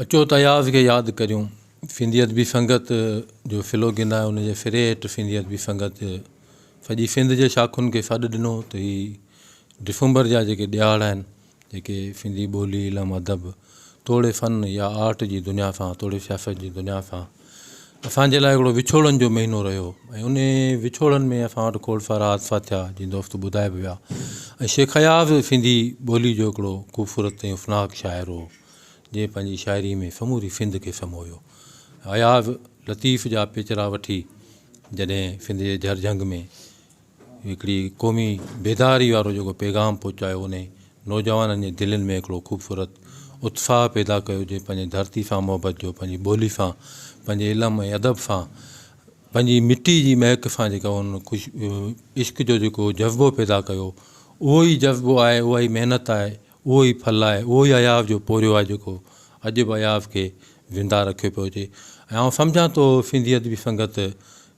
اچو ته اياز کي ياد ڪريون. ڦندي ادبي سنگت جو ڦلو گناء ان جي ڦري هيٺ ڦندي ادبي سنگت سڄي سنڌ جي شاخن کي سڏ ڏنو ته هي ڊسمبر جا جيڪي ڏهاڙا آهن جيڪي سنڌي ٻولي، علم، ادب توڙي فن يا آرٽ جي دنيا سان توڙي سياست جي دنيا سان اسان جي لاء هڪڙو وڇوڙن جو مهينو رهيو ۽ انهي وڇوڙن ۾ اسان وٽ کول فراز فاتحا جي دوست ٻڌائي به ويا ۽ شيخ اياز سنڌي ٻولي جو هڪڙو خوبصورت ۽ افناڪ شاعر هو جنهن پنهنجي شاعري ۾ سموري سنڌ کي سمويو اياز لطيف جا پيچرا وٺي جڏهن سنڌ جي جهرجهنگ ۾ هڪڙي قومي بيداري وارو جيڪو پيغام پهچايو انهي نوجوانن جي دلين ۾ هڪڙو خوبصورت اتساهه پيدا ڪيو جي پنهنجي ڌرتي سان محبت جو پنهنجي ٻولي سان پنهنجي علم ۽ ادب سان پنهنجي مٽي جي مهڪ سان جيڪا ان عشق جو جيڪو جذبو پيدا ڪيو اهو ئي جذبو آهي اها ئي محنت آهي اهو ئي ڦل آهي، اهو ئي اياز جو پورهيو آهي جيڪو اڄ به اياز کي زنده رکيو پيو اچي ۽ آئون سمجهان ٿو سنڌي ادبي سنگت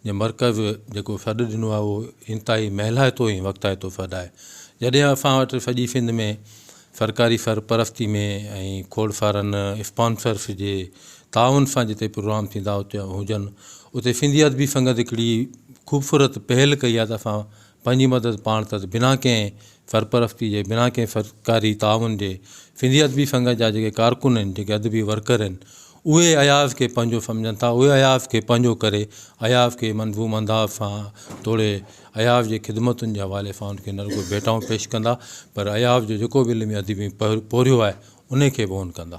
جي مرڪز جيڪو سڏ ڏنو آهي اهو انتهائي مهلائتو ۽ وقتائتو سڏ آهي جڏهن اسان وٽ سڄي سنڌ ۾ سرڪاري سرپرستي ۾ ۽ کوڙ سارن اسپانسرس جي تعاون سان جتي پروگرام ٿيندا هجن اتي سنڌي ادبي سنگت هڪڙي خوبصورت پهل ڪئي آهي ته اسان پنهنجي مدد پاڻ ته بنا ڪنهن سرپرستي جي، بنا ڪنهن سرڪاري تعاون جي، سنڌي ادبي سنگت جا جيڪي ڪارڪن آهن، جيڪي ادبي ورڪر آهن، اهي اياز کي پنهنجو سمجهن ٿا، اهي اياز کي پنهنجو ڪري، اياز کي منظوم انداز سان توڙي اياز جي خدمتن جي حوالي سان ان کي نه رڳو ڀيٽائون پيش ڪندا، پر اياز جو جيڪو به علمي ادبي پورهيو آهي، ان کي به اون ڪندا.